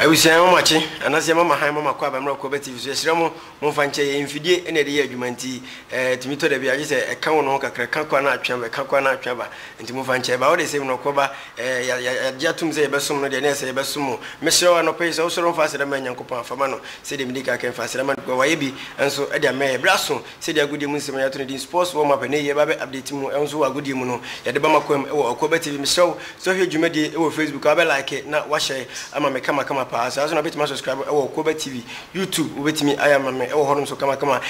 Abusua yɛma mo akye anaasɛ yɛma mo ahan ma moakɔ abɛmmra kuo aba TV so yɛsrɛ mo momfa nkyɛ yɛn mfidie na yɛde yɛ adwuma nti ɛtumi tɔ dabi a gye sɛ ɛka wo ne ho kakra ɛka kɔ na atwe aba ɛka kɔ na atwe aba nti momfa nkyɛ ɛba wode sɛ mmorɔkɔ ba ɛɛ yɛagye atom sɛ yɛbɛsom no deɛ na ɛsɛ yɛbɛsom mo mesrɛ wo anɔpa yi sɛ wosɔre mfa aseda ma Nyankopɔn a fa ma no sɛdeɛ medi ka kɛ mfa aseda ma no because wayɛ bi nso de ama yɛn berɛ aso Sɛdeɛ agodie mu nsɛm a yɛato no din Sports Warm Up ɛnnɛ yi ɛreba abɛ update mu, ɛho nso wɔ agodie mu no, yɛde bɛma kwam wɔ Ɔkoaba TV. Mesrɛ wo sɛ hwɛ dwumadie yi wɔ Facebook a, wobɛ like na woahyɛɛ ama me kamakama paa. Saa ara nso na wobɛtumi asubscribe wɔ Ɔkoaba TV, YouTube wobɛtumi ayɛ ama me wɔ hɔnom nso kamakama.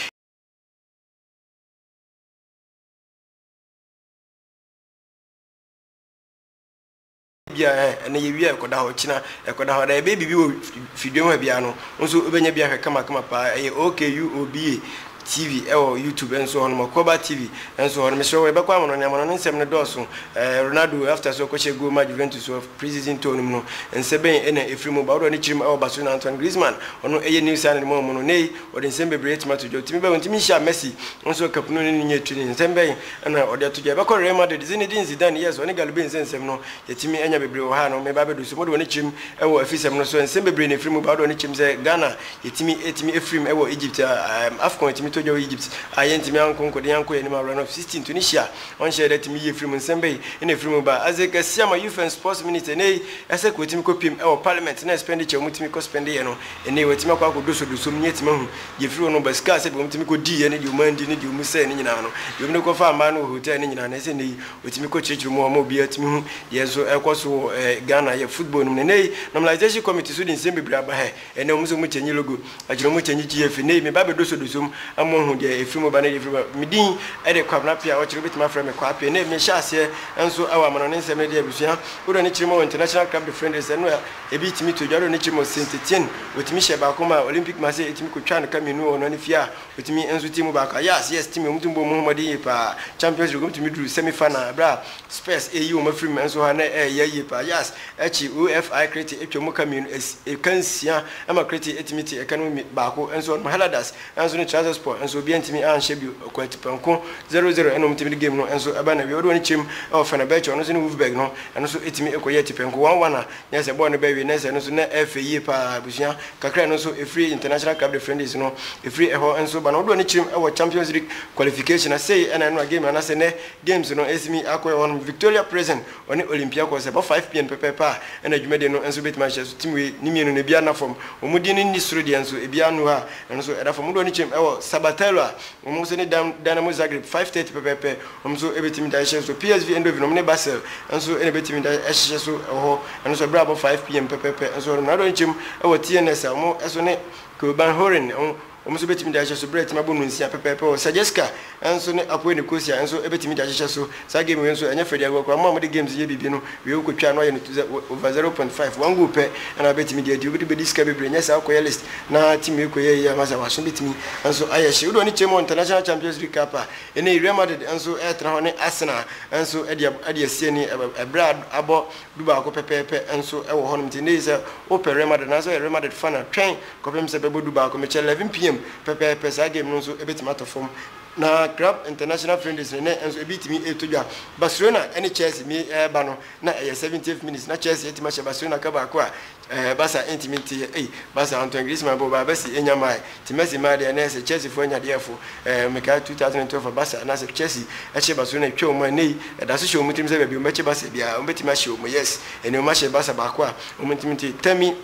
Ebia ɛɛ, ɛnnɛ yewia a ɛkɔda hɔ, ɔkyena ɛkɔda hɔ, anaa yɛbɛyɛ biribi wɔ fidua mu ha biara no, wo nso wobɛnya bi ahwɛ kamakama paa. Ɛyɛ OK UOBA TV wɔ YouTube nso hɔ nom, Ɔkɔba TV nso hɔ nom. Mesrɛ wo, yɛbɛkɔ amanɔne, amanɔne nsɛm no dɔɔso. Ɛɛ, Ronaldo after sɛ ɔkɔhyɛɛ goal ma Juventus wɔ pre-season tour no mu no, nsɛ bɛn na ɛfiri mu ba? Wo deɛ ɔne kyirim wɔ Barcelona. Antoine Griezmann, ɔno ɛyɛ new signing wɔn mu no, nnɛ yi ɔde nsɛm bebree atumi ato dwa. Ɔtumi bɛn, ɔntumi nhyia Messi nso kapunu no ne nyɛ training. Nsɛm bɛn. Ɛna ɔde ato gya. Yɛbɛkɔ Real Madrid, Zinedine Zidane, yes, ɔne Galu Bey nsɛ nsɛm no, yɛatumi anya bebree wɔ ha no, meba abɛduru so. Mode w'ani kyerem wɔ afisɛm no so ɛ? Nsɛm bebree na ɛfiri mu ba. Wode w'ani kyerem sɛ Ghana, yɛtumi, yɛtumi firim wɔ Egypt a, ɛɛm, Afcon yɛtumi tɔ gya wɔ Egypt a, yɛntumi anko nkɔdi, yɛankɔ yɛn anim awura no, 16, Tunisia, wɔnhyɛɛ da, tumi yie firi mu. Nsɛm bɛyi na ɛfiri mu ba. Isaac Asiamah, Youth and Sports Minister, ɛnnɛ yi, Isaac, wɔtumi kɔpiem wɔ Parliament na expenditure a wɔtumi kɔ spend yɛ no, Ɛnnɛ yi, wɔatumi akɔ akɔdosɔdosɔ mu, na yɛatumi ahu deɛ ɛfiri wɔn ba sika a sɛdeɛ wɔtumi kɔdiiɛ ne deɛ wɔandi ne deɛ wɔsɛee no nyinaa no, deɛ wɔde kɔfaa mmaa no wɔ hotel no nyinaa no, ɛsɛ ɛnnɛ yi wɔtumi kɔkyerɛkyerɛ mu a wɔma obiara tumi hu deɛ nso ɛrekɔ so wɔ Ghana yɛ football no mu. Na ɛnnɛ yi, Normalization Committee nso de nsɛm bebree aba ha. Ɛnnɛ wɔn nso wɔkyɛnji logo, akyire wɔkyɛnji GFA. Ɛnnɛ yi, meba abɛdosɔdosɔ mu ama wɔahu deɛ ɛfiri mu ba ne deɛ ɛfiri mu ba. Me din de Kwabena Appiah a wɔkyerɛ wobɛtumi afrɛ me Kwaa Appiah. Ɛnnɛ yi, mehyɛ aseɛ nso wɔ amanɔne nsɛm no de abusua wodoɔ ne Kyeremɔɔ International Club de Friend de sɛ no a, Ebi tumi to dware no kyɛ mu sen Titian. Otumi hyɛ baako ma Olympic ma sɛ etumi kotwa no ka mmienu wɔ ɔno ne fie a otumi nso team baako a. Yas, yes, team a wɔn tumi bɔ wɔn ho mmɔden yie paa. Champions League wɔn tumi duru semi final bere a Spurs reyi wɔn afiri mu nso ha na ɛreyɛ yie paa. Yas, akyi OFI Krete twa mu ka mmienu, ɛka nsia ma Krete tumi te ɛka no mu baako nso ɔnom. Hellas, Nanso ne trousers pɔ nso obiara ntumi anhyɛ bio. Ɔkwati pɔnkɔ zero zero ɛna wɔtumi de game no nso ba n'awie. Wode wɔn kyɛm wɔ Fenerbahce ɔno nso ne Wolfsburg no ɛno nso tumi kɔyɛ atipɛnko one one a nyɛ sɛ bɔɔl no bɛwe na sɛ ɛno nso na ɛyɛ fɛ yie paa abusua kakra ɛno nso ɛfiri International Club de Friendlies no ɛfiri ɛhɔ nso ba na wode wɔn kyɛm wɔ Champions League qualification na sei ɛna ɛno na game no anasɛ nnɛ games no ɛtumi akɔyɛ hɔnom Victoria Plzen Wɔne Olympiakos ɛbɔ 5pm pɛpɛɛpɛ a ɛna adwumadie no nso bɛtumi ahyɛ so tim wei ne mmienu no ebiara nna fam wɔn din no nni soro deɛ nso ebiara nnu hɔ a ɛno nso ɛda fam wodoɔ no kyɛm ɛwɔ Sabatello a wɔn nso ne Dam Dynamo Zagreb 5:30 pɛpɛɛpɛ wɔn nso ɛbɛtumi da ɛhyɛ so PSV Eindhoven wɔn ne Basel nso ɛna ɛbɛtumi da ɛhyehyɛ so ɛwɔ hɔ ɛno nso ɛberɛ abɔ 5pm pɛpɛɛpɛ nso hɔ nom na wodoɔ no kyɛm ɛwɔ TNS a wɔn ɛso ne Keulen Horen wɔn Wɔn nso betumi de ahyehyɛ so bere a atumi abɔ no nsia pɛpɛɛpɛ wɔ. Sajewska nso ne Akoe Nicosia nso betumi de ahyehyɛ so. Saa game wei nso, ɛnyɛ fɛ de agoa koraa. Mo a mode games yɛ biribi no, wiei wokotwaa na woayɛ no to zɛ over zero point five. One goal pɛ na wobetumi de adi. Wode bedi sika bebree. Nyɛ saa wokɔyɛ list na team wei kɔyɛɛ yie ama saa w'aso betumi nso ayɛ hye. Wode w'ani kyerɛ mu wɔ International Champions League Cup a, ɛnnɛ yi Real Madrid nso retra hɔ ne Arsenal nso de ab adi asie ne ɛ bere a ad abɔ dubaako pɛpɛɛpɛ nso wɔ hɔnom. Nti ɛnnɛ yi sɛ wopɛ Real Madrid anaasɛ woyɛ Real Madrid fan a, twɛn. Kɔpem sɛ bɛbɔ du baako mekyɛ 11 PM pɛpɛɛpɛ saa game no nso ɛbɛtumi atɔ fam na Club International Friendlies no nnɛ nso ɛbi tumi ɛretɔ dwa Barcelona ɛne Chelsea mi ɛreba no na ɛyɛ 70th minutes na Chelsea atumi ahyɛ Barcelona ka baako a ɛɛ Barca ɛntumi nteɛ ei Barca Antoine Griezmann bɔ baa Messi ɛnya mae nti Messi maa deɛ ɛnnɛ sɛ Chelsea foɔ anya deɛ ɛfo ɛɛ mekae 2012 Barca anaasɛ Chelsea ɛhyɛ Barcelona ɛtwa wɔn a ɛnnɛ yi ɛdaso hyɛ wɔn tirim sɛ baabi wɔn bɛkyɛ Barca biara wɔn bɛtumi ahye wɔn yes ɛnneɛ wɔn ahyɛ Barca baako a wɔn ntumi nteɛ Tammy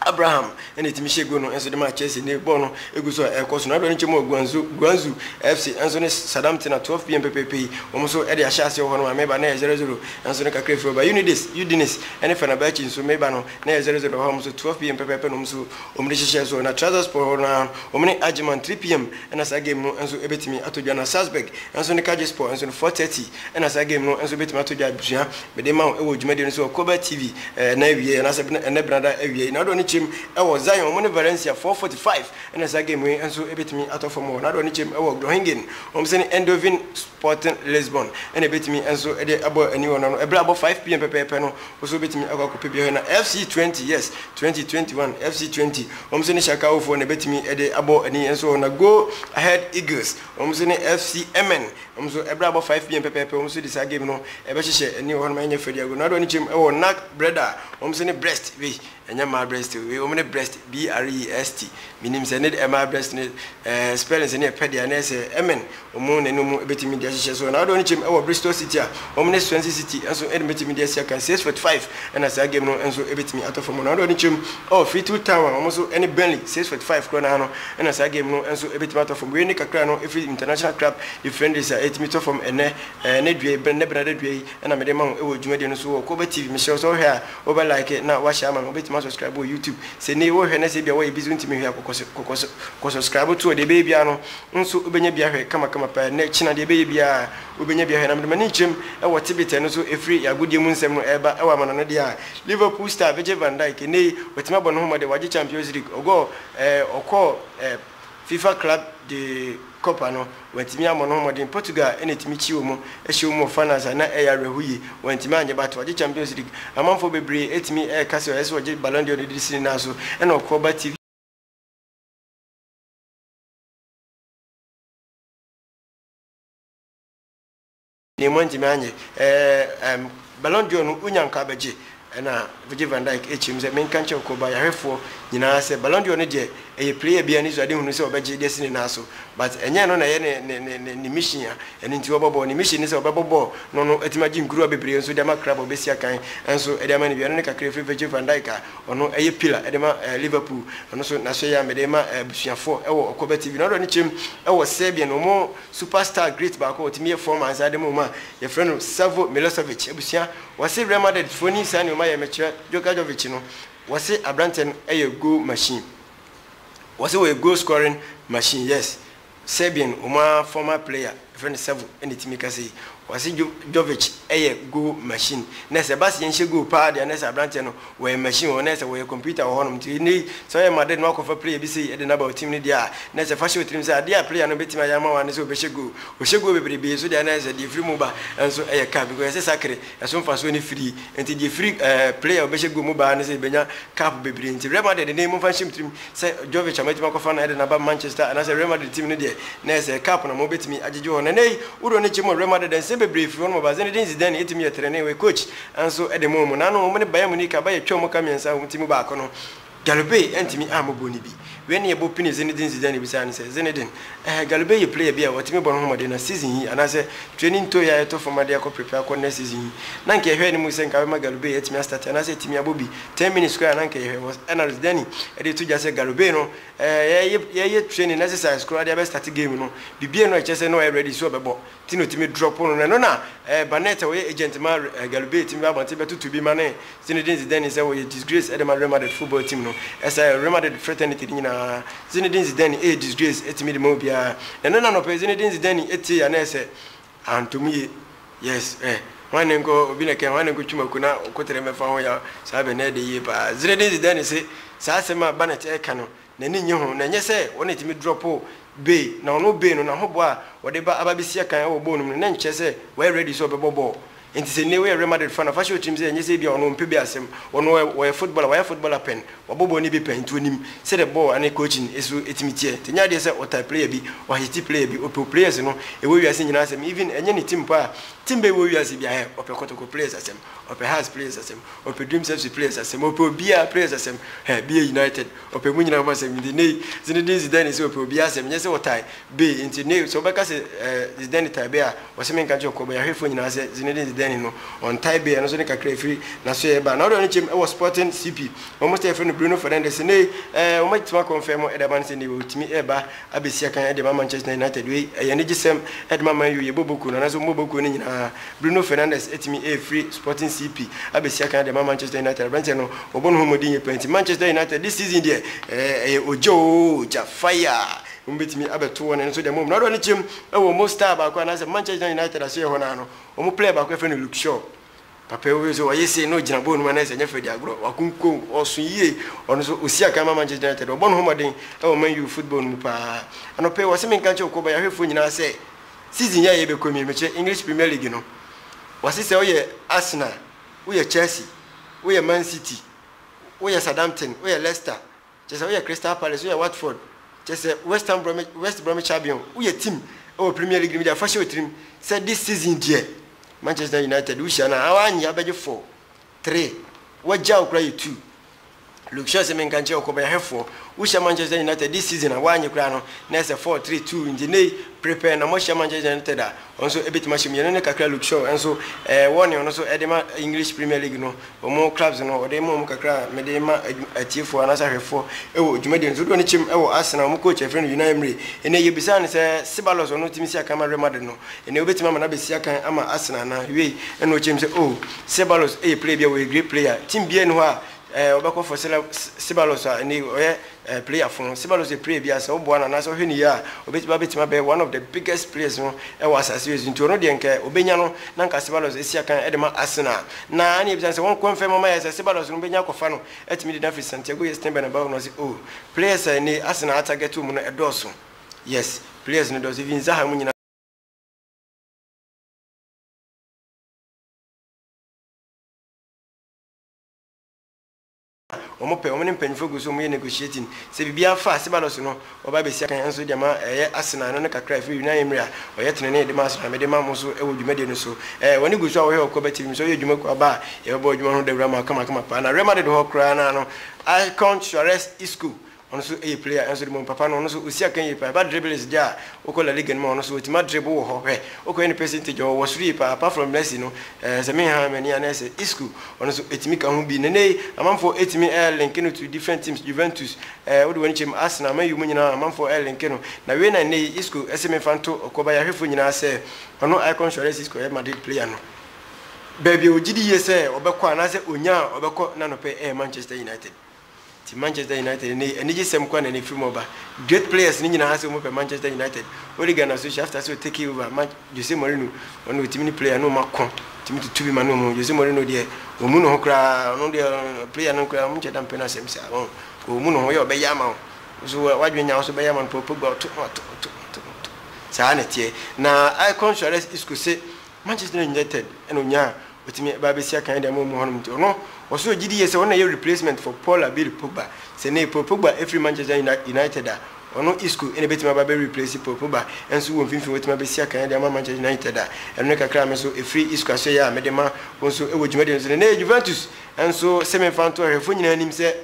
Abraham na etumi hyɛ gol no nso de maa Chelsea ne bɔɔl no egu so a ɛrekɔ so no. Abrɛ no kyɛ mu wɔ Guangzhou, Guangzhou FC nso ne Sadam Tsena 12pm pɛpɛɛpɛ yi, wɔn nso de ahyɛ aseɛ wɔ hɔ nom a Meba na ɛyɛ 0-0 nso no kakra afiri hɔ ba. Unides, Udinese ne Fenerbahce nso Meba no na ɛyɛ 0-0 wɔ hɔ a wɔn nso 12pm pɛpɛɛpɛ na wɔn nso wɔn de hyehyɛɛ so. Na Trabzonspor hɔ no ara wɔn ne Ajeman 3pm na saa game no nso ɛbɛtumi atɔ dwa na Salzburg nso ne Kayserispor nso no 4:30. Ɛna saa game no nso bɛtumi atɔ dwa abusua. Mede ma wo wɔ dwumadie no so wɔ Kobe TV ɛna awiei anaasɛ ɛnɛ benada awiei. Nado ne kyem wɔ Zion wɔn ne Valencia 4:45 ɛna saa game wei nso ɛbɛtumi atɔ fam wɔ Nado ne kyem wɔ Groningen wɔn sene Eindhoven Sporting Lisbon ɛna ɛbɛtumi nso de abɔ ani wɔ no ɛberɛ abɔ 5pm pɛpɛɛpɛ no wo nso wobɛtumi akɔ akɔpɛ bi hɔ ɛna FC 20 yes 2021 FC 20 wɔn nso ne Shakao foɔ na ɛbɛtumi de abɔ ani nso wɔ na Go Ahead Eagles wɔn nso ne FC Emmen Wɔn nso bere abɔ 5pm pɛpɛɛpɛ wɔn nso de saa game no bɛhyehyɛ ɛne hɔnom ɛnyɛ fɛ diago Nado ani kyem wɔ nag bread a wɔn nso ne breast wei ɛnyɛ mmaa breast o wei wɔn ne breast BREST menim sɛ ne de mmaa breast no eh spellings no yɛ pɛ deɛ ɛnɛ sɛ ɛmɛn wɔn na ɛno mu bɛtumi de ahyehyɛ so Nado ani kyem wɔ Bristol City a wɔn ne Swansea City nso ɛde bɛtumi de asi akan 645 ɛna saa game no nso bɛtumi atɔ fam Nado ani kyem wɔ Fleetwood Town a wɔn nso ɛne Burnley 645 korɔ no ara no Ɛna saa game no nso ɛbɛtumi atɔ fam. Wei ne kakra no ɛfiri International Club de friendlies a ɛtumi tɔ fam ɛnɛ ɛnɛ dua yi, ɛnɛ Benada dua yi ɛna mede ma wo ɛwɔ dwumadie no so wɔ Kobe TV. Mehyira wo sɛ wohwɛ a wobɛ like na woahyɛ ama me. Wobɛtumi asubscribe wɔ YouTube. Sɛ nnɛ yi worehwɛ na sɛ ebia woyɛ busy wontumi nhwɛ a kɔkɔ sɛ kɔkɔ sɛ kɔ subscribe to hɔ. Deɛ ɛbɛyɛ biara no nso wobɛnya bi ahwɛ kama kama paa. Nnɛ kyena deɛ ɛbɛyɛ biara wobɛnya bi ahwɛ. Na mede m'ani kyerɛm ɛwɔ tebit a ɛno nso ɛfiri yɛn agodie mu nsɛm no ɛreba ɛwɔ amanɔne deɛ a Liverpool star Virgil van Dijk nnɛ yi watumi abɔ ne ho mmɔden wagye Champions League ɔgɔɔ. Ɛɛ ɔkɔɔ ɛɛ fifa club de copa no wantumi ammɔ ne ho mmɔden portugal na ɛtumi kyi wɔn ɛhyɛ wɔn wɔ finals a na ɛyɛ awerɛho yie wantumi anyɛ but wagye champions league amanfoɔ bebree ɛtumi ɛɛka sɛ ɛsɛ ɔgye ballon d'or no de si ne nan so ɛna ɔkɔɔ ba tv Nea moantumi anyɛ ɛɛ ɛm Ballon d'Or no wonya nkɔ abɛgye ɛna Virgil van Dijk ɛkyerɛ mu sɛ menka nkyerɛ wo Koba yarefoɔ nyinaa sɛ Ballon d'Or no deɛ ɛyɛ player biara anisoadehunu sɛ ɔbɛgye de asi ne nan so but ɛnyɛ ɛno na ɛyɛ ne ne ne ne ne mission a ɛno nti ɔbɔ bɔɔl ne mission ne sɛ ɔbɛbɔ bɔɔl na ɔno atumi agye nkuruwa bebree nso de ama club a ɔbɛsi akan nso de ama no bi ɛno ne kakra ɛfiri Virgil van Dijk a ɔno ɛyɛ pillar de ma ɛɛ Liverpool ɛno nso n'ahyɛ yɛ a mede rema ɛɛ abusuafoɔ ɛwɔ Ɔkɔbɛ TV na ɔdɔ ne kyerɛ mu ɛwɔ Serbian wɔn Super star great baako a ɔtumi yɛ fɔm ansa de mo homa a yɛfrɛ no Savo Milosevic abusua wɔse Real Madrid foɔ nim saa nneɛma yɛ mekyerɛ Joka Jovic no wɔse abranteɛ no yɛ goal machine wɔse wɔyɛ goal scoring machine yes Serbian wɔn ara former player yɛfrɛ no Savo na ɛtumi kasa yi Ɔse Jovic yɛ goal machine na sɛ ɛba sɛ yɛnhyɛ goal paa deɛ a na ɛsɛ abranteɛ no wɔyɛ machine wɔ na ɛsɛ wɔyɛ computer wɔ hɔnom nti nnɛ yi sɛ ɔyɛ Madrid na wakɔfa player bi sei de no aba wo team no deɛ a na ɛsɛ fa hyɛ wo tirim sɛ adeɛ a player no bɛtumi ayɛ ama wo ara ne sɛ ɔbɛhyɛ goal ɔhyɛ goal bebrebee nso deɛ a na ɛsɛ deɛ ɛfiri mu ba nso yɛ cup because ɛsɛ sakre ɛso mfasoɔ no firi nti deɛ ɛfiri player a ɔbɛhyɛ goal mu ba ara ne sɛ yɛbɛnya cup bebree nti Real Madrid nnɛ yi momfa nhyɛ mo tirim Sɛ Jovic a moatumi akɔfa no de no aba Manchester anaasɛ Real Madrid team no deɛ, na ɛyɛ sɛ cup na mobɛtumi agyegye wɔ hɔ. Na ɛnnɛ yi, wo de w'ani kyem wɔ Real Madrid a, nsɛm bebree firi hɔnom ba. Zinedine Zidane tumi yɛ trenee, ɔyɛ coach nso de ma wɔn. Nanom wɔne Bayern Munich aba yɛ twam ka mmiɛnsa a wɔn ti mu baako no, Galupé antumi ammɔ goal no bi. Wei ne ɛbɔ pini Zinedine Zidane bisaa no sɛ, Zinedine, eh, Galupé yɛ player bi a ɔtumi bɔ ne ho mmɔden na season yi anaasɛ training toe a ɛtɔ fam ade akɔ prepare akɔ next season yi, na anka yɛhwɛɛ no mu sɛ anka bɛma Galupé atumi astarte anaasɛ atumi abɔ bi. ten minutes koraa na nka yɛhwɛ was analyst Danny ɛde to gya sɛ Gareth Bale no ɛɛ yɛyɛ yɛyɛ training exercise koraa de abɛ start game no bibie no ɛkyɛ sɛ na ɔyɛ ready sɛ ɔbɛbɔ ti na otumi drop no na ɛno na ɛɛ Barnett a ɔyɛ agent ma ɛɛ Gareth Bale tumi ba abɔnten bɛtoto bi ma ne Zinedine Zidane sɛ ɔyɛ disgrace ɛde ma Real Madrid football team no ɛsɛ Real Madrid fraternity no nyinaa Zinedine Zidane ɛyɛ disgrace ɛtumi de ma obiara na ɛno na anɔpɛ Zinedine Zidane ɛtee a na ɛsɛ Antom ye yes eh Hwan ne nkɔ obi na kɛn Hwan ne nkɔ twi mako na ɔkotere mmɛfa ho yaw Saa bɛ na ɛde yie paa Zere de dze dɛn ne se Saa asɛm a Barnett ɛreka no n'ani nnye ho Na ɛnyɛ sɛ ɔno na ɛtumi drɔpo Bey Na ɔno Bey no n'ahoboa a ɔde ba aba abɛsi akan wɔ bɔɔl no mu no na ɛnkyerɛ sɛ wayɛ ready sɛ ɔbɛbɔ bɔɔl Enti sɛ nnɛ woyɛ Real Madrid fan a, fa hyɛ wo tirim sɛ ɛnyɛ sɛ ebia ɔno ɔmpɛ bi asɛm. Ɔno ɔyɛ ɔyɛ footballer, wayɛ footballer pɛn, wabɔ bɔɔl no bi pɛn, nti onim sɛdeɛ bɔɔl ne coaching nso tumi teɛ. Nti ɛnyɛ adeɛ sɛ ɔtaa player bi, ɔhate player bi, ɔpɛ players no, ɛwɔ wiase nyinaa asɛm. Even ɛnyɛ ne team paa, team bɛn wɔ wiase biara he, ɔpɛ Kɔtɔkɔ players asɛm, ɔpɛ Hearts players asɛm, ɔpɛ Dreams FC players asɛm, ɔpɛ obiara players asɛm, hɛ, BA United, ɔpɛ mu nyinaa ho asɛm. Nti nnɛ yi, Zinedine Zidane se ɔpɛ obiara asɛm, ɛnyɛ sɛ ɔtaa. Be, ntsi ne, sɛ wobɛka sɛ, eh, Zidane tae be a, wɔse menka nkyerɛ kɔ bayɛhwɛfoɔ nyinaa sɛ Zinedine Zidane no, ɔntae be, ɛno nso ne kakra a ɛfiri n'asoɛeɛ ba. Na wode ɔno kyɛm wɔ Sporting CP, wɔn star a yɛfrɛ no Bruno Fernandes, nnɛyi, eh, wɔn agye Tuma Kɔnfɛn mu de ama no sɛ nnɛyi ɔretumi reba abɛsi akan de ama Manchester United. Wei, ɛyɛ anigyesɛm de ma Man U, yɛbɔ bɔ kuo no, anaasɛ wɔbɔ bɔ kuo no nyinaa. Bruno Fernandes atumi afiri Sporting CP abɛsi akan de ama Manchester United. Aberanteɛ no, wɔbɔ ne ho mmɔden yie paa, enti Manchester United, this season deɛ, eh, ɛyɛ ogya oo, ogya, fire, Wɔbɛtumi abɛto wɔn ani so deɛ mmom Ronaldo ani kyerɛ mu wɔ wɔn star baako anaasɛ Manchester United asoeɛ hɔ no ara no, wɔn player baako a yɛfrɛ no Luke Shaw. Papa yi wohwɛ sɛ ɔye sei na ɔgyina bɔɔl no mu anaasɛ ɛnyɛ Freddy agorɔ, wakonkom, ɔso yie, ɔno nso ɔsi akan ma Manchester United, ɔbɔ ne ho mmɔden wɔ Man U football no mu pa ara. Anɔpa yi wɔse menka nkyerɛ Okoba yɛahwɛfoɔ nyinaa sɛ season yi a yɛrebɛkɔ mu yi, mekyerɛ English Premier League no, wɔse sɛ woyɛ Arsenal, woyɛ Chelsea, woyɛ Man City, woyɛ Southampton, woyɛ Leicester, Kyɛ sɛ woyɛ Crystal Palace, woyɛ Watford, kyɛ sɛ West Ham Bromwich, West Bromwich Albion, woyɛ team wɔ Premier League no mu deɛ fa hyɛ wo tirim sɛ this season deɛ Manchester United wohyia no a woannye abɛgye four, three, wɔagya wo koraa yɛ two. Luke Shaw sɛ menka nkyerɛ wo kɔbayɛhwɛfoɔ, wohyia Manchester United this season a woannye koraa no na ɛsɛ four, three, two, nti nnɛ yi prepare na moahyia Manchester United a Nso ebetumi ahyɛ mu. Yɛne no kakra Luke Shaw nso ɛɛ wɔ nea ɔno nso ɛde ma English Premier League no wɔn clubs no ɔde ma wɔn kakra a mede rema adwu atiefoɔ anaasɛ ahwɛfoɔ ɛwɔ dwumadie no so. Dodoɔ no kyɛm ɛwɔ Arsenal wɔn coach a yɛfrɛ no Unai Emery. Ɛnɛ yɛbisaa no sɛ Ceballos ɔno tumi si akan ma Real Madrid no ɛnɛ wobetumi ama no abɛsi akan ama Arsenal anaa? Wiei ɛna ɔkyɛm sɛ oh Ceballos ɛyɛ player bi a ɔyɛ great player team biara nni hɔ a Ɛɛ wobɛkɔ for Sela Sebalos a ɛnɛ yi ɔyɛ ɛɛ player fon. Sebalos yɛ player bi a sɛ woboa no anaasɛ wohwɛ no yie a obetumi abetumi abɛyɛ one of the biggest players no ɛwɔ asase wei so nti ɔno deɛ nka obenya no na nka Sebalos esi akan ɛde ma Arsenal na ɛne yɛ bisa sɛ wɔn kwan fɛ mama yɛ sɛ Sebalos no benya akɔfa no atumi de no afiri Santiago yɛ Stein Bernabeu na ɔsi oh players a ɛnɛ yi Arsenal atarget wɔn no ɛdɔɔso yes players no dɔɔso even Zaha mu nyinaa. Wɔn pɛ, wɔn ne mpanyinfoɔ gu so wɔn yɛ negotiating. Sɛ biribiara fa Asebalos no, wɔba abɛsi akan nso de ama ɛyɛ Asenaa no ne kakra a ɛfiri Yunan Emire a ɔyɛ tenenee de ma Asenaa mede ma mo so wɔ dwumadie no so. Ɛɛ wɔn ani gu so a wɔhwɛ wɔ Kwaba TV mu sɛ woyɛ dwuma kuo aba a yɛbɛbɔ adwuma no ho dawura ma wo kamakama paa na Rema de de hɔ koraa no ara no Alcon Suarez Isco ɔno so yɛ player nso de bom papa no ɔno so ɔsi akan yie paa ɛba dribbles deɛ a wokɔ La Liga no mu a ɔno so ɔtumi adribble wɔ hɔ hwɛ wokɔyɛ ne percentage ɔwɔ soro yie paa apart from Messi no ɛɛ sɛ menhaa m'ani a na ɛsɛ Isco ɔno so ɛtumi ka ho bi nenei amanfoɔ ɛtumi ɛɛ linke no to different teams Juventus ɛɛ wode w'ani kyɛ mu Arsenal Man U mu nyinaa amanfoɔ ɛɛ linke no na wei na nenei Isco ɛsɛ memfa nto ɔkɔ ba yɛahwɛfoɔ nyinaa sɛ ɔno I come sure dɛ sɛ Isco yɛ Madrid player no baabi a ɔgyedi yie sɛ ɔbɛkɔ anaasɛ ɔnya a ɔbɛkɔ na nɔpɛ ɛyɛ Manchester United. Nti Manchester United ne anigye sɛm koraa na na ɛfiri mu ba. Great players no nyinaa sɛ wɔn pɛ Manchester United. Ole Gunnar Solskjaer after sɛ ɔtake over ma Jose Mourinho ɔno ɔtumi ne player no wɔn ako tumi tutu bi ma no wɔn. Jose Mourinho deɛ wɔmu ne ho koraa ɔno deɛ player no koraa wɔn kyɛ da mpɛ no asɛm saa wɔn wɔmu ne ho yɛ ɔbɛyɛ ama wɔn nso wadwene nya nso bɛyɛ ama no pɔpɔ gba ɔto ɔto ɔto ɔto saa na ɛteɛ na Icon Suarez Isco se Manchester United na onyaa a otumi ba abesi akan de ama wɔn mu hɔnom nti, ɔno ɔso wɔ gyidi yie sɛ ɔno na ɛyɛ replacement for Paul Abiri Pogba. Sɛ nnɛ yi Paul Pogba firi Manchester United a, ɔno Isco na ebetumi aba abɛ replace Paul Pogba nso wɔ mfimfini watumi abesi akan de ama Manchester United a ɛno ne kakra a me nso efiri Isco asoɛeɛ a mede ma wo nso wɔ dwumadie no so no. Nnɛ yɛ Juventus nso se memfa nto ahwɛfoɔ nyinaa anim sɛ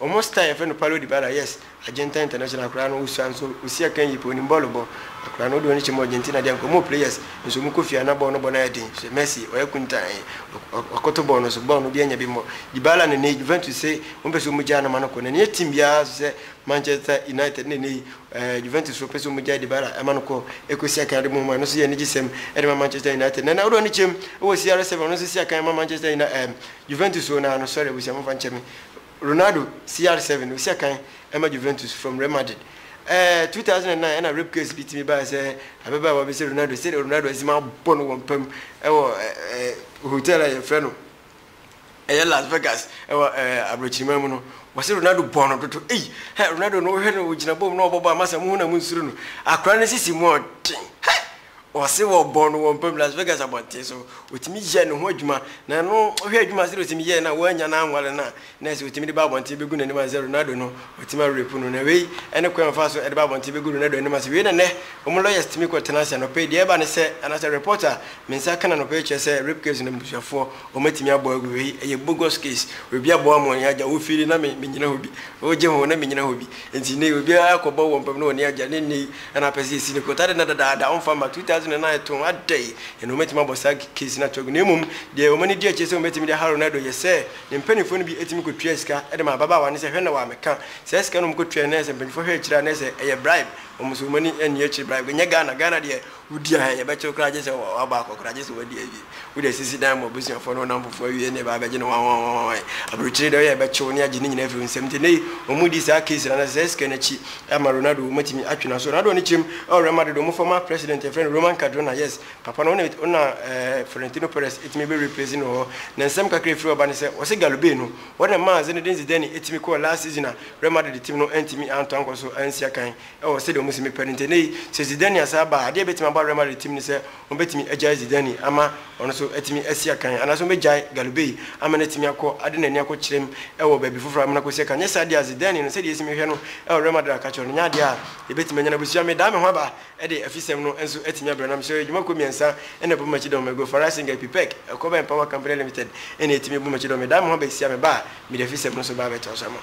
Ɔmo star yɛfrɛ no Paulo Dybala yes Argentan international akora no osua nso osi akan yie paa onim bɔɔlo bɔ akora no wode wani kyem Argentina deɛ anka ɔmo players nso ɔmo kɔ fie a na bɔɔl no bɔ no ayɛ den hwɛ Messi ɔyɛ kuntann wakoto bɔɔl no so bɔɔl no obi anya bi mmɔ Dybala no ɛnɛ yi Juventus se ɔmo pɛ sɛ ɔmo gyaa no ma no kɔ na ɛnyɛ team biara nso sɛ Manchester United na ɛnɛ yi ɛɛ Juventus foɔ pɛ sɛ ɔmo gyaa Dybala ɛma no kɔ ɛkɔ si akan ade mmom a ɛno nso yɛ anigye sɛm ɛde ma Manchester United na ɛnɛ wode wani kyem ɛwɔ CR7 ɔno nso si akan ɛma Manchester United ɛɛm Juventus o naa no sorry abusua mo mfa nkyɛ me. Ronaldo, CR7, osi akan ma Juventus from Real Madrid. Ɛɛ 2009 ɛna rape case bi tumi bae sɛ ababaawa bi sɛ Ronaldo, sɛdeɛ Ronaldo atumi abɔ no wɔ mpa mu ɛwɔ ɛɛ hotel a yɛfrɛ no ɛyɛ Las Vegas ɛwɔ ɛɛ abrɔkyiriman mu no, wɔse Ronaldo bɔɔ no dodo. Ei! Hɛ! Ronaldo no wohwɛ no ogyina bɔm na ɔbɔ bɔɔl a masa mohu na monsuro no. Akora no sisi mu ɔden. Hɛ! Ɔse wɔbɔ no wɔ mpa mu Las Vegas abɔnten so, ɔtumi yɛ ne ho adwuma, na ɛno wohwɛ adwuma sɛdeɛ ɔtumi yɛɛ no a, wannya no anware no a, na ɛsɛ ɔtumi de ba abɔnten bɛgu n'anim ansa Ronaldo no, ɔtumi awrepu no, na wei ne kwan a ɔfaa so de ba abɔnten bɛgu Ronaldo anim ansa, wei na nnɛ wɔn lawyers tumi kɔ tena ase anɔpa yi, deɛ ɛba ne sɛ, anaasɛ report a me nsa ka no anɔpa yi kyerɛ sɛ rape case no abusuafoɔ wɔn atumi abɔ agu, wei yɛ bogus case, obi abɔ ama ɔne agya, wo fie ni na me mennyina hɔ bi, wogye ho na mennyina hɔ bi, nti nnɛ yi obiara akɔbɔ wɔ mpa mu na ɔne agya, ne nnɛ yi. Ɛna apɛ sɛ yɛsi no kotare nnɛ dadaada, ɔmfa mma 2009 to ho, adɛn na wɔbɛtumi abɔ saa case no ato agu? Na mmom deɛ wɔn ani gye akyire sɛ wɔbɛtumi de aha Ronaldo yɛ sɛ ne mpanimfoɔ no bi tumi kɔtuaa sika de maa ababaawa no sɛ hwɛ na wɔammɛka saa sika no a wɔkɔtuaeɛ no ayɛ sɛ mpanimfoɔ hwɛ akyire a na ayɛ sɛ ɛyɛ bribe, wɔn nso wɔn ani nnye akyire bribe, ɛnyɛ Ghana, Ghana deɛ wodi aha a yɛbɛkye wo koraa gye sɛ wabɔ akɔ koraa gye sɛ wadi awie. Wode asisi dan ma w'abusuafoɔ ne wo nnamfofoɔ awie na ɛbaa bɛgye no wawawawawae. Aburokyire dɛ woyɛ a ɛbɛkye wo ne agye ne nyinaa afiri wo nsam. Nti nnɛ yi wɔn mu di saa case no anaasɛ saa sika no akyi ama Ronaldo wɔ mu atumi atwe n'aso. Ronaldo ne kyerem wɔ Real Madrid wɔn former president yɛfrɛ no Roman Cardona yes papa no wone wona eh Florentino Perez ɛtumi bɛ replace no wɔ hɔ na nsɛm kakra ɛfiri hɔ ba ne sɛ wɔse Galo Bay no wɔna maa Zinedine Zidane ɛtumi kɔɔ last season a Real Madrid team no antumi antɔ ankɔ so ansi akan ɛwɔ sɛdeɛ wɔn si mepɛ no nti nnɛ yi sɛ Zidane asan ba a adeɛ ɛbɛtumi aba Real Madrid team ne sɛ Wɔbɛtumi agyae Zidane ama ɔno nso atumi asi akan, anaasɛ wɔbɛgyae Galoubet ama no atumi akɔ ade n'ani akɔkyerɛm wɔ baabi foforɔ ama no akɔsi akan. Nyɛ saa deɛ a, Zidane no, sɛdeɛ yɛsi mehwɛ no wɔ Real Madrid a ka kyerɛ wo no, nyɛ adeɛ a yɛbɛtumi anya no. Abusua, medan me ho aba de afisɛm no nso atumi abrɛ nam so. Adwuma kuo mmiɛnsa na ɛbɔ Macedon mu, Magro, Farai Singa, Epipec, Ekoba and Power Company Limited na ɛtumi bɔ Macedon. Medan me ho aba asia, meba a, mede afisɛm no nso ba abɛtoa so ama wo.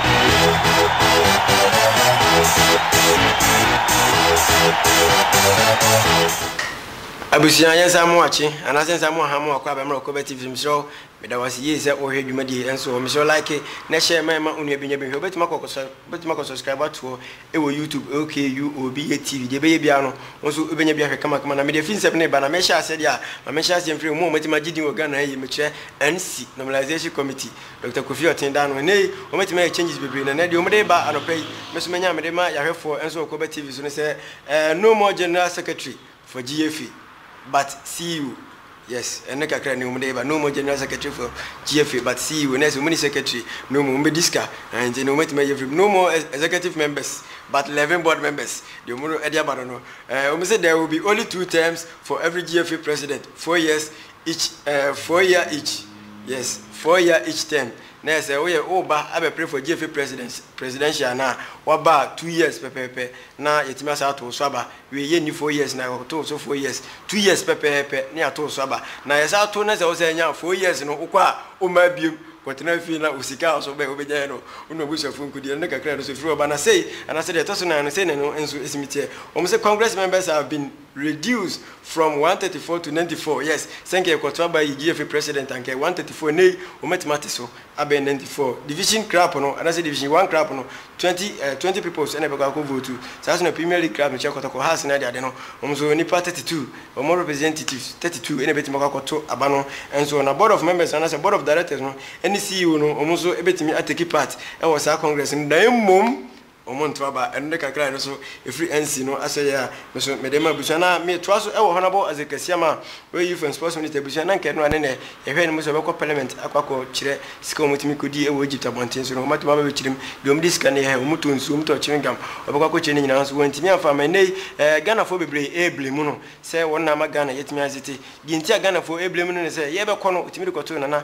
Abusua yɛ nsa mo akye anaasɛ nsa mo aha mo akɔ abɛmmerɛ wɔ Kɔbɛ TV so mesrɛ wo meda wo ase yie sɛ wohwɛ dwumadie yi nso hɔ mesrɛ wo like na share ma ɛma onua bi nya bi hwɛ wobɛtumi akɔ wobɛtumi akɔ subscribe ato hɔ ɛwɔ YouTube OKUOBA TV deɛ ɛbɛyɛ biara no wo nso wobɛnya bi ahwɛ kamakama na mede afinsɛm no ba na mehyɛ aseɛ deɛ a ma mehyɛ aseɛ mfiri mu a wɔatumi agye din wɔ Ghana ha yi mekyerɛ NC Normalization Committee Doctor Kofi Ɔtee daa no nnɛ yi wɔatumi ayɛ changes bebree na nnɛ deɛ wɔde reba anɔpa yi me nso manya mede ma yɛahwɛfoɔ nso wɔ Koba TV so ne sɛ eh, no more general secretary for GFA but CEO yes ɛno kakra ne wɔde reba no more general secretary for GFA but CEO na ɛsɛ wɔn ni secretary no more wɔn bɛdi sika eh, nti no wɔatumi ayɛ free no more ex- executive members but 11 board members deɛ wɔn de aba no no eh, wɔn sɛ there will be only two terms for every GFA president four years each eh four year each yes four year each term na sɛ woyɛ woba abɛpere for gyeefe president presidential no a waba a two years pɛpɛɛpɛ na yɛtumi asan ato wo so aba wei yɛnni four years na yɛto wo so four years two years pɛpɛɛpɛ na yɛato wo so aba na yɛsan ato na sɛ wosan nya four years no wokɔ a wommaa biom kɔtena fie na wo sika a so bɛ wobɛgyaeɛ no wo ne w'abusuafoɔ nkɔdi ɛno ne kakra no so firi hɔ ba na sei anaasɛ deɛ ɛtɔ so nan no sei na ɛno nso ɛsimi teɛ wɔn sɛ congress members have been Reduce from one thirty four to ninety four yes sɛ nka yɛkɔto aba yi GFA president a nka ɛyɛ one thirty four ɛnɛ yi wɔbɛtumi ate so abɛn ninety four division crap no anaasɛ division one crap no twenty eh twenty peoples ɛna ɛbɛkɔ akɔ vote saa nso na premier league crap no kyɛ kɔtɔkɔ hearts no ade ade no wɔn nso nipa thirty two wɔn representatives thirty two ɛna ɛbɛtumi akɔ akɔto aba no nso na board of members no anaasɛ board of directors no ɛne ceo no wɔn nso ɛbɛtumi atake part ɛwɔ saa congress no na mmom Wɔn nto aba. Ɛno de kakra a ɛno nso ɛfiri ansi no asɛ yɛ a, me nso mede ma abusua no ara. Metoa so wɔ Honourable Isaac Asiam a ɔyɛ Youth and Sports Minister abusua no, na anka ɛno na ne nnɛ yɛhwɛ anim sɛ ɔbɛkɔ Parliament akɔ akɔkyerɛ sika a wɔtumi kɔdi wɔ Egypt abɔnten so no, wɔn atumi aba abɛkyerem, deɛ wɔde sika no yɛ, wɔtɔ nsuo, wɔtɔ chewing gum, wɔbɛkɔ akɔkyerɛ ne nyinaa nso wɔantumi amfa amma nnɛ yi eh, Ghanafoɔ bebree ɛreblame no sɛ wɔn na ama Ghana yɛatumi azete. Deɛ nti a Ghanafoɔ ɛreblame no ne sɛ, yɛrebɛkɔ no, wɔtumi de kɔtoo Nana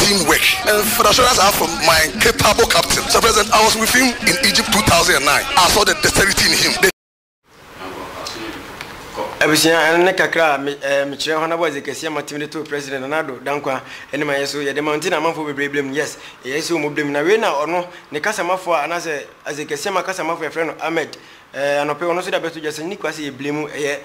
team work and for the assurance I have from my capable captain Sir President I was with him in Egypt two thousand and nine I saw the dexterity in him the abusua ɛno ne kakra a mekyerɛ hɔ nabɔ adze kɛseɛ ma tumi de to president nanado dankwa ɛne ma yɛ so yɛde ma nti na amanfoɔ bebree blem yes ɛyɛ sɛ ɔmu blem na wei na ɔno ne kasamafoɔ a anaasɛ adze kɛseɛ ma kasamafoɔ yɛfrɛ no ahmed anɔpɛ ɔno nso de abɛto dwa sɛ ne kura sɛ yɛ blem ɛyɛ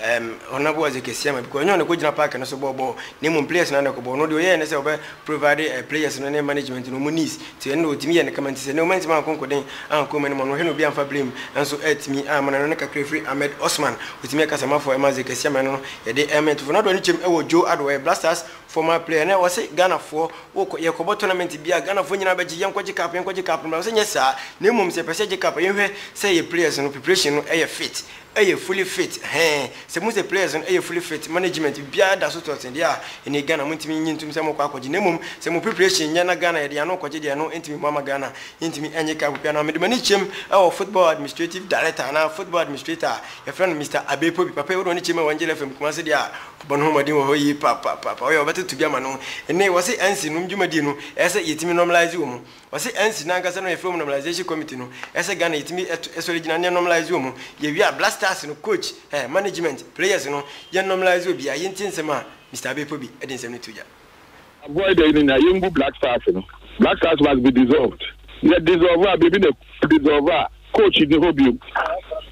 Ɛɛm ɔno na bɔɔ dze kɛseɛ ma because ɔnnyɛ ɔno na ɛkɔgyina park no so bɔɔ bɔɔl na mmom players no ara na ɛkɔbɔ. Ɔno deɛ ɔyɛɛ ne sɛ ɔbɛ provide ɛɛ players no ne management no wɔn needs nti ɛno na ɔtumi yɛɛ no kama nti sɛ nnɛ wɔantumi ankɔ nkɔden ankɔ mu no ma no hwɛ na obi amfa blame nso atumi ammana no. Ne kakra ɛfiri Ahmed Osman ɔtumi yɛ kasamafoɔ ɛma dze kɛseɛ ma ɛno no yɛde ɛɛma yɛn tofo no adɔ ne kyɛm ɛwɔ Joe Addo ɔyɛ Black Stars former player na ɔse Ghanafoɔ wokɔ yɛkɔbɔ tournament bi a Ghanafoɔ nyinaa bɛgye yɛnkɔgye cup yɛnkɔgye cup no bra ɔse nyɛ saa na mmom sɛ yɛpɛ sɛ yɛgye cup a yɛnhwɛ sɛ yɛ players no preparation no ɛyɛ fit Ɛyɛ fully fit hɛn. Sɛ muhu sɛ players no yɛ fully fit, management biara da so to ɔtsen deɛ a, ɛnna yi Ghana monntumi nnye nntum sɛ mokɔ akɔgye, na mmom sɛ mo preparation nnyɛ na Ghana yɛde yɛn ano kɔgye deɛ ɛno nntumi mmoa ma Ghana yɛnntumi nnye cup biara. Na mede m'ani kyɛm wɔ football administrative director anaa football administrator a yɛfrɛ no Mister Abbey Pobi, papa yi wode w'ani kyɛm wɔ Angel FM Kumasi deɛ a, ɔbɔ ne ho mmɔden wɔ hɔ yie papaapa, ɔyɛ a ɔbɛtoto bi ama no. Nnɛ yi wɔse NC nom dwumadie no, ɛyɛ sɛ yɛtumi normalise wɔ mu. Ɔse ansi na ankasa no yɛ frɛ ɔmo normalization committee no ɛsɛ Ghana yɛtumi sɔre gyina ne yɛ normalise ɔmo yɛ wie a black stars no coach eh management players no yɛ normalise obiaa yɛntie nsɛm a Mister Abbey Pobi ɛde nsɛm no to gya. Avoid ɛyi no nyinaa yɛngu black stars no black stars must be dissolved yɛ dissolve a baabi na ɛkɔ dissolve a coach nni hɔ biom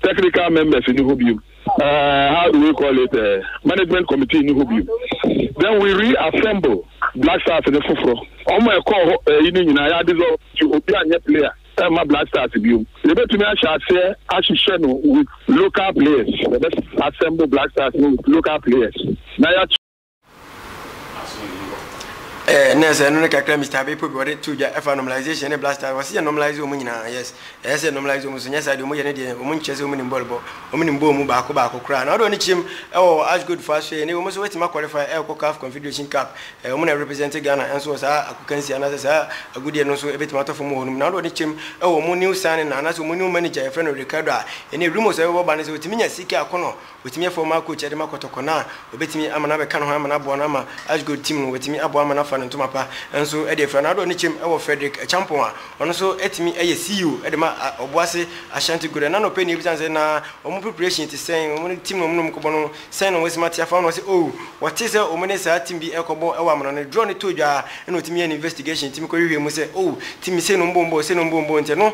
technical members nni hɔ biom Uh, how do we call it? Uh, management committee in Hobio. Then we reassemble Black Stars in the Fufro. Omo e call ho e ni nyina ya dissolve to obi anye player. E ma Black Stars biom. Ye betumi ahye ase ahyehyɛ no with local players. Ye assemble Black Stars with local players. Na ya Eh, na sɛ ɛno ne kakra mr abepo bi wɔde to dwa ɛfa normalization ne black stars wɔse yɛ normalise wɔn nyinaa yes ɛyɛ sɛ normalise wɔn so nyɛ saa deɛ wɔn yɛ ne deɛ wɔn nkyɛ sɛ wɔn nim bɔɔl bɔ wɔn nim bɔɔl mu baako baako koraa na wɔde wɔn kyɛm ɛwɔ ash gold fo aso yɛ ne wɔn nso wɔatumi akɔlify ɛkɔ caf confederation cup ɛɛ wɔn na represent ghana nso wɔ saa akokansi anaasɛ saa agudeɛ no nso ɛbɛtumi atɔ fam wɔ hɔ nom na wɔde wɔn kyɛm ɛwɔ wɔn new signing na anaasɛ wɔn new manager yɛfrɛ no ricardo a ɛne rumors a ɛbɛbɔ ba ne sɛ wɔtumi nya sika akɔnɔ Watumi afa Omar coach de ma kɔtɔkɔ no a, obetumi ama no abɛka ne ho ama no aboa no ama Ashgold team no watumi aboa ama no afa no ntoma pa nso de afira no adɔ ne kyɛm wɔ Frederick Acheampong a ɔno nso atumi ayɛ CEO de ma Obuasi Ashanti Gora na anɔpa nie bisa no sɛ na wɔn preparation te sɛn, wɔn ne team no wɔn ne wɔn kɔbɔ no sɛn na wɔn asi ma te afa ho na ɔse oh wɔte sɛ wɔn ne saa team bi ɛkɔbɔ wɔ amena no draw no tɔɔ dwa a ɛna otumi yɛ ne investigation tumi kɔ hwehwɛ mu sɛ oh team sei na wɔn bɔ wɔn bɔɔ sei na wɔn bɔ wɔn bɔɔ nti ɛno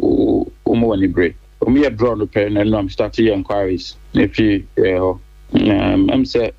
wɔma wɔn bere. Wɔn yɛ draw no pɛ na ɛno am start yɛ enquiries na efi yɛ hɔ na ɛm sɛ.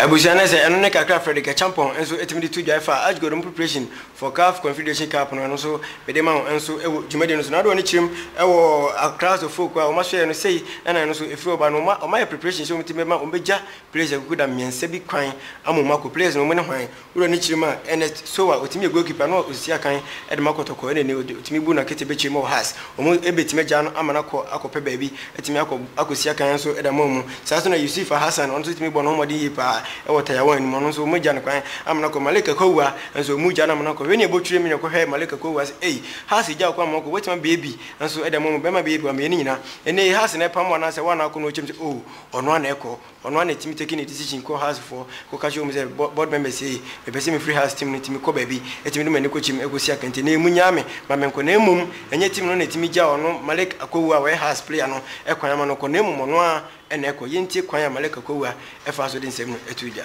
Abusua no sɛ ɛno ne kakra Fredrick Acheampong nso tumi de to dwae fa Ashgold mu preparation for CAF Confederation Cup no ɛno nso mede ma wo nso wɔ dwumadie no so na wode w'ani kyerɛ mu wɔ Accra so folk a wɔn asoɛɛ no sei na ɛno nso ɛfiri ɔba no wɔn ayɛ preparation sɛ wɔn tumi bɛma wɔn bɛgya players akuku da mmiɛnsa bi kwan ama wɔn akɔ players no wɔn ne hwan Wura ne kyirim a, Ernest Sowa, otumi yɛ goalkeeper na osisi akan de ma Kɔtɔkɔ na ɛnɛ ɔde otumi bu na kete bɛkyerɛ mu wɔ Hearts. Wɔn bɛtumi agyaa no ama no akɔ akɔpɛ baabi atumi akɔ akɔsi akan nso de ama wɔn. Saa nso na Yusuf Alhassan, ɔno nso tumi bɔ ne ho mmɔden yie pa ara wɔ Tayawan no mu, ɔno nso wɔagya no kwan ama no akɔ. Malik Akowua nso wɔgyaa no ama no akɔ. Wei ne ɛbɔ twirim na ɛkɔhwɛ Malik Akowua sɛ ei, Hearts agya wo kwan ma wokɔ, wobɛtumi abɛyɛ bi nso de ama wɔn. Bɛrima bɛyɛ pii wɔ mmeae no nyinaa. Ɛnɛ yi Hearts na ɛpam wo anaasɛ woa na akɔ na wɔkyerɛ mu sɛ oh, ɔno ara na ɛkɔ. Ɔno ara na ɛtumi take ne decision kɔ Hearts foɔ kɔka kyerɛ wɔn sɛ board members sei mepɛ sɛ mefiri Hearts team no nti mekɔ baabi ɛtumi de m'ani kɔ kyim ɛkɔsi akɛntɛ na ɛmu nyaa me ma menkɔ na mmom ɛnyɛ team no na ɛtumi gya ɔno Malik Akwawua a ɔyɛ Hearts player no kwan ama no kɔ na mmom ɔno ara na ɛkɔ. Yɛntie kwan a Malik Akwawua faa so de nsɛm no too dwa.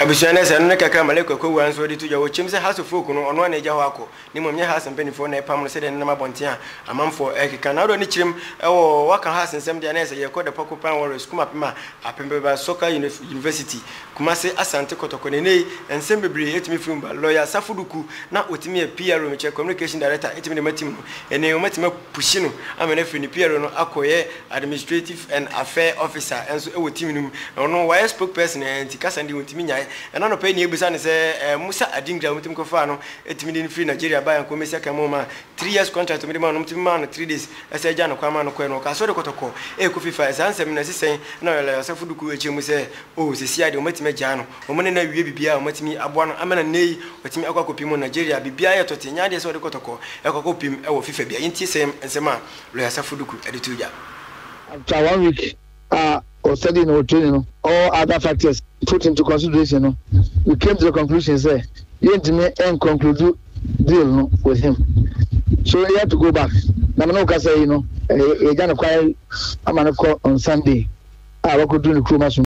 abusua no ɛsɛ no ne kakra ma lake akɔwura nso ɔde to dwa wɔ kyɛm sɛ haso folk no ɔno a na agya hɔ akɔ ne mmom nyɛ haso mpanimfoɔ na ɛpam no sɛdeɛ nenam abɔnten a amanfoɔ ɛkeka na ɔdɔ ne kyerɛm ɛwɔ waka haso nsɛm deɛ a na ɛsɛ yɛkɔ the pɔko pan warriors kum apem a apem bɛba soccer university kumase asante kɔtɔkɔ na ɛnɛ yi nsɛm bebree ɛtumi firi mu ba lawyer safo duku na ɔtumi yɛ PRO mekyɛ communication director ɛtumi de ma team no ɛnɛ yi wɔatumi apusyi no ama no afiri ne PRO no akɔyɛ Administrative and Affair Officer nso wɔ team no mu, na ɔno wayɛ spokesperson ɛ nti kasa no deɛ ɔntumi nyae. Ɛna anɔpa yi na yɛbisa no sɛ ɛ Musa Adingra a wɔtumi kɔfaa no tumi de no firi Nigeria baeɛ a nka ɔmmɛsi akan mu ɔma three years contract a wɔde maa no, wɔtumi maa no three days sɛ gyaa no kwan maa no kɔeɛ no, ɔkaa sɛ ɔde kɔtɔkɔ rekɔ fifa ɛ saa nsɛm no na ɛsi sɛn na Ɔyala Yasafo Duku kyerɛ mu sɛ oh seesei ara deɛ wɔatumi agyaa no, wɔn ne no awie biribiara a wɔatumi aboa no ama na nnɛ yi watumi akɔ akɔpem wɔ Nigeria, biribiara yɛ tɔte, ɛnyɛ adeɛ sɛ ɔde kɔtɔkɔ rekɔ akɔpem wɔ fifa bia. Yɛntie sɛm nsɛm a Lɔya Safo Duku de too gya. After one week a wɔ studying na wɔ training no, all other factors put into consideration no, we came to the conclusion sɛ yɛntumi nconclude deal no with him. So he had to go back. Na me ne wo kasa yi no, yɛagya no kwan ama no kɔ on Sunday a wakɔduru ne kurom asom.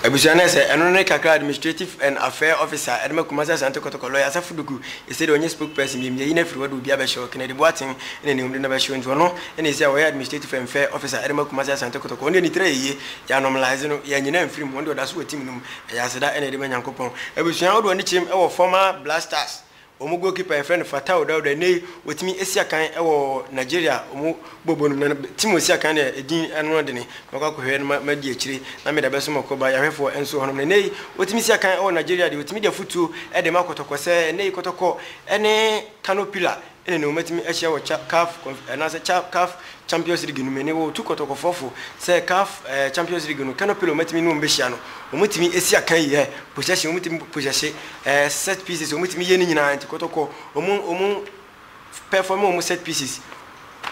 Abusua no sɛ ɛno ne kakra Administrative and Affair Officer a ɛde ma Kumasi Asante Kɔtɔkɔ Lɔya Asafo Duku ɛsɛ dɛ ɔnyɛ Spokesperson biom Yɛyi no afiri hɔ de obi abɛhyɛ hɔ Kennedy Boateng na ne hɔmde no bɛhyɛ hɔ nti ɔno na ɛsɛ a ɔyɛ Administrative and Fair Officer ɛde ma Kumasi Asante Kɔtɔkɔ Ɔno deɛ ne tiri ayɛ yie Yɛanormalize no yɛanyina amfiri mu Ɔno deɛ ɔda so wɔ team no mu Ɛyɛ aseda na yɛde ma Nyankopɔn Abusua wo de w'ani kyerɛm wɔ former Black Stars Wɔn goalkeeper a yɛfrɛ no Fatau Dauda, nnɛ yi watumi asi akan wɔ Nigeria a wɔn bɔ bɔ no mu. Na team a ɔsi akan no yɛ din ano adene. Mɛkɔ akɔhwɛ no ma madi akyire na meda bɛso ma kɔba yɛahwɛfoɔ nso hɔnom. Na nnɛ yi watumi si akan wɔ Nigeria deɛ ɔtumi de afutuo de ma kɔtɔkɔ sɛ nnɛ yi kɔtɔkɔ ne Kano Pillar ne ne wɔatumi ahyia wɔ ca caf conf anaasɛ ca caf Champions League no mu. Ɛnnɛ wɔretu kɔtɔkɔfoɔ fo sɛ caf Champions League no Kano Pillar wɔatumi ne wɔn bɛhyia no, wɔtumi si akan yɛ possession, wɔtumi possesse set pieces, wɔtumi yɛ ne nyinaa nti kɔtɔkɔ wɔn wɔn perform wɔn set pieces,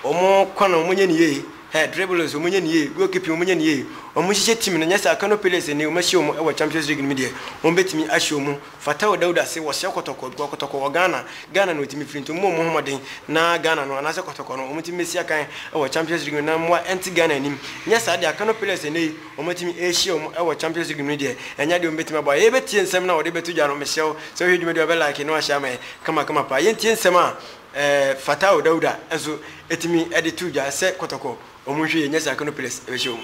wɔn kwan wɔn nyɛ ne yie, hɛ dribbles wɔn nyɛ ne yie, goal keeping wɔn nyɛ ne yie, wɔn hyehyɛ team no nyɛ saa Kano Pillars ɛnnɛ wɔahyia wɔn wɔ Champions League no mu deɛ wɔbɛtumi ahyɛ wɔn Fatau Dauda se wɔsɛ kɔtɔkɔ bcause kɔtɔkɔ wɔ Ghana, Ghana na otumi firi nti mommɔ mo ho mmɔden na Ghana no anaasɛ kɔtɔkɔ no wɔtumi mmɛsi akan wɔ Champions League no na mmoa nte Ghana anim. Nyɛ saa deɛ a Kano Pillars ɛnnɛ yi wɔatumi rehyia wɔn wɔ Champions League no mu deɛ ɛnyɛ adeɛ a wɔbɛtumi aboa yɛn. Yɛbɛtie nsɛm no a wɔde bɛto dwa no, mesrɛ wo sɛ wohwɛ dwumadie a wobɛ like na woahyɛ ama yɛn kama kama paa. Yɛntie nsɛm a ɛɛ Fatau Dauda nso ɛtumi de to dwa sɛ kɔtɔkɔ wɔn nhwɛ yie nyɛ saa Kano Pillars ɛbɛhyɛ wɔn mu.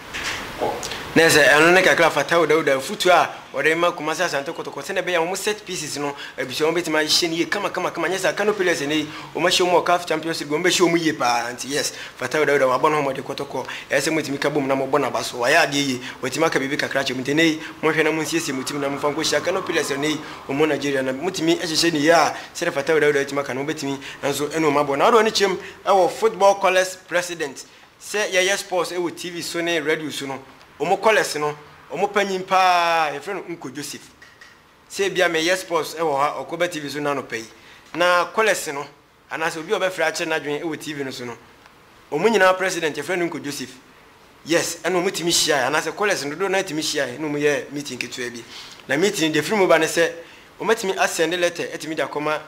Na ɛsɛ ɛno ne kakra fa tao Dawuda afutuo a ɔde rema Kumasi Asante Kotoko sɛdeɛ ɛbɛyɛ a wɔn set pieces no abusua wɔn bɛtumi ahyehyɛ no yie kamakamakama nyɛ saa Kano Pillars ɛnɛ yi wɔn ahyɛ wɔn wɔ caf Champions League wɔn bɛhyɛ wɔn yie paa nti yes fa tao Dawuda wabɔ ne ho mmɔden Kotoko ɛyɛ sɛ motumi ka bom na mobɔ no aba so wayɛ adeɛ yie watumi aka biribi kakra akyerɛ mu nti ɛnɛ yi monhwɛ na monsiesie mo tim na momfa nkɔ hyia Kano Pillars ɛnɛ yi wɔn wɔ Nigeria na motumi hyehyɛ no yie a sɛdeɛ fa tao Dawuda atumi aka no mobɛtumi nso ɛne wɔn abɔ na wode w'ani kyerɛ mu wɔ football colours president Sɛ yɛyɛ sports wɔ TV so ne radio so no, wɔn callers no, wɔn panyin paa, yɛfrɛ no Uncle Joseph. Sɛ ebia meyɛ sports wɔ ha, ɔkɔ ba TV so nnɛ anɔpa yi, na callers no, anaasɛ obi a ɔbɛfrɛ akyerɛ n'adwene wɔ TV no so no, wɔn nyinaa president, yɛfrɛ no Uncle Joseph. Yes, ɛna wɔn tumi hyiae, anaasɛ callers no dodow no ara tumi hyiae na wɔn yɛ meeting ketewa bi. Na meeting no, deɛ ɛfiri mu ba ne sɛ, wɔatumi asɛnde letter atumi de akɔma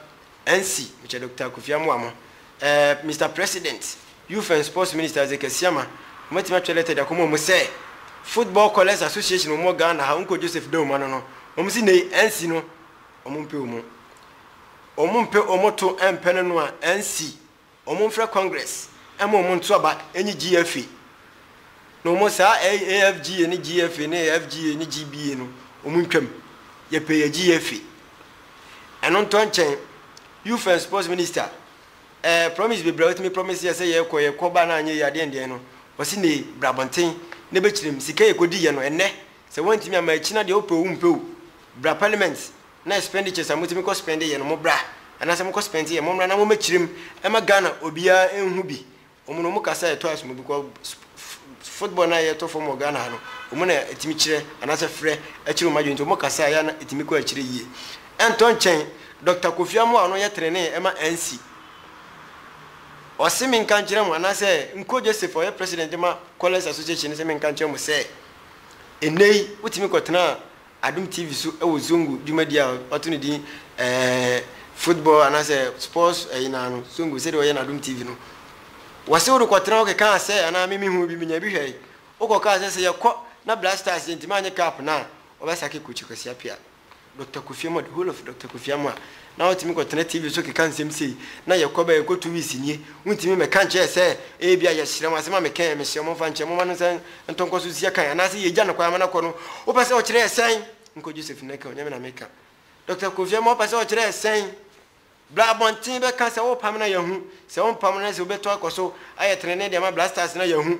Ansi, mekyɛ Dɔkta Kofi amoa mo. Ɛɛ Mister President, Youth and Sports Minister Isaac Asiamah, wɔatumi atwerɛ lɛtɛ de akɔma wɔn sɛ, Football Callers Association a wɔwɔ Ghana ha, Unko Joseph Dawum ano no, wɔn se nnɛyi Ansi no, wɔmpɛ wɔn. Wɔmpɛ wɔn to mpɛ no no a, Ansi Wɔmfrɛ Congress ma wɔn nto aba nye GFA no wɔn saa AFGA ne GFA ne AFGA ne GBA no wɔn ntwam. Yɛpɛ yɛ GFA. Ɛno ntɔ nkyɛn, Youth and Sports Minister, eh, promise bebree a ɔtumi promise yɛ sɛ yɛkɔ, yɛkɔ ba na anyɛ yie adeɛn deɛn no, ɔse ne bra abɔnten na bɛkyerɛ mu. Sika yɛkɔdiiɛ no, ɛnnɛ sɛ woantumi amma akyi no adeɛ wopɛ o wompɛ o, bra Parliament. na expenditures a motumi kɔ spend yɛ no mo bra anaasɛ mokɔ spend yɛ mommra na mo mɛkyerɛm ɛma Ghana obiara ɛnhu bi ɔmo na ɔmo kasa ɛtɔ asom because football no a yɛtɔ fam wɔ Ghana ha no ɔmo na ɛtumi kyerɛ anaasɛ frɛ ɛkyerɛ ɔmo adwene nti ɔmo kasa yɛ na ɛtumi kɔ akyire yie ɛntɔ nkyɛn Doctor Kofi Amoah a ɔno yɛ trenee ɛma ANC ɔse menka nkyerɛ mo anaasɛ Nko Joseph a ɔyɛ president ma Callers Association no sɛ menka nkyerɛ mo sɛ ɛnnɛ yi wotumi kɔtena Adom TV so wɔ Zongo dwumadie a wato no din Football anaasɛ Sports ɛyi no ara no, Zongo sɛdeɛ ɔyɛ no Adom TV no. Wɔse wode kɔtena hɔ kekaa sɛ anaa me mehuu bi menya bi hwɛe. Wokɔkaa sɛ sɛ yɛkɔ na Black Stars yɛntumi annye cup no a wɔbɛsake Coach Kwasi Appiah. Doctor Kofi Amoah, the whole of Doctor Kofi Amoah Na wotumi kɔtena TV so keka nsɛm sei, na yɛkɔ bɛ a yɛkɔtu wis nie. Wontumi mmɛka nkyerɛ sɛ, Ebia yɛsrɛ mo, asɛm a mekae a mesrɛ mo mfa nkyɛ, momma no nsan ntɔ nkɔ so nsia kan, anaasɛ yɛgya no koraa ma no akɔ no, wopɛ sɛ ɔkyerɛ yɛ sɛn? Nkɔ Joseph na ka, Onyame na meka. Dɔkta Kofi Ammah wopɛ sɛ ɔkyerɛ yɛ sɛn? Bra abɔnten bɛka sɛ wopa me na yɛahu, sɛ wompam no na sɛ wobɛtu akɔ so ayɛ trenee de ama Black Stars na yɛahu.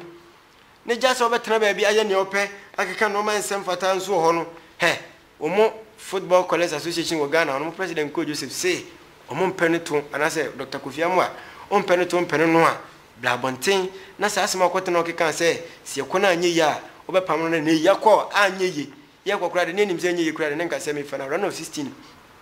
Ne gya sɛ wobɛtena baabi ayɛ nea wopɛ, akeka nnoɔma a ɛnsɛ mfataa nso wɔ hɔ no, hɛ! Wɔn Football Callers Association wɔ Ghana wɔn president Nkor Joseph se wɔn mpɛ no to anaasɛ Dɔkta Kofi Amoah ɔmpɛ no to mpene no a bra abɔnten na saa asɛm a ɔkɔ tena ɔkekaa sɛ se yɛkɔ na anyɛ yie a wɔbɛpam no na nnɛ yi yɛkɔ a anyɛ yie yɛkɔ koraa de ne anim sɛ anyɛ yie koraa de ne nka sɛ mefa no around of 16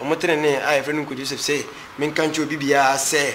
Wɔn trenee a yɛfrɛ no Nkoa Joseph se, Menka nkyerɛ obi biara sɛ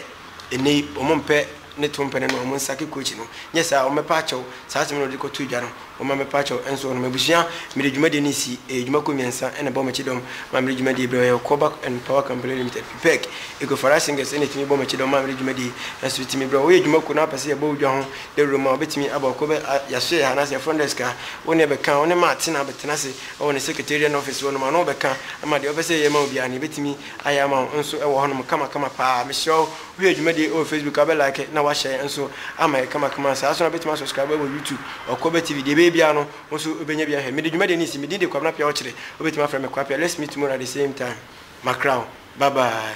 nnɛ yi wɔmpɛ ne to mpɛ no na wɔnsa ke kookyi no. Nyɛ saa a, wɔbɛpa akyɛw. Saa asem no na wɔde kɔtoo dwa no. Wɔma mɛpa akyɛw nso wɔnom. Abusua, mede dwumadie no resi. Ɛyɛ dwuma kɔ mmiɛnsa na ɛbɔ m'akyi dɔm ma mede dwumadie brɛ. Ɔyɛ Ɔkɔɔ Back and Power Company Limited, PPEC, Eagle Farah Singers na ɛtumi bɔ m'akyi dɔm ma mede dwumadie nso tumi brɛ. Woyɛ dwuma kuo na wopɛ sɛ yɛbɔ wo dwa ho dawuro mu a, wobɛtumi aba Ɔkɔɔ Bɛ, a, yɛasoɛ yɛ ha anaasɛ yɛ front desk a, wo ne yɛbɛka. Wo ne Matt na bɛtena ase Wɔ ne secretarial office hɔ nom a na ɔbɛka ma deɛ ɔpɛ sɛ yɛyɛ ma wo biara no yɛbɛtumi ayɛ ama wo nso wɔ hɔ nom kama kama paa. Mesrɛ wo, wo hwɛ dwumadie wɔ facebook a wobɛ like na wahyɛɛ nso ama yɛ kama kama saa nso na wobɛtumi asubscribe wɔ youtube Ɔkwaba TV deɛ ɛbɛyɛ biara no wo nso wobɛnya bi ahwɛ. Mede dwumadie no resi, me din de Kwabena Piawɔkyere, wobɛtumi afrɛ me Kwapia, let's meet tomorrow at the same time, makra wo, bye bye.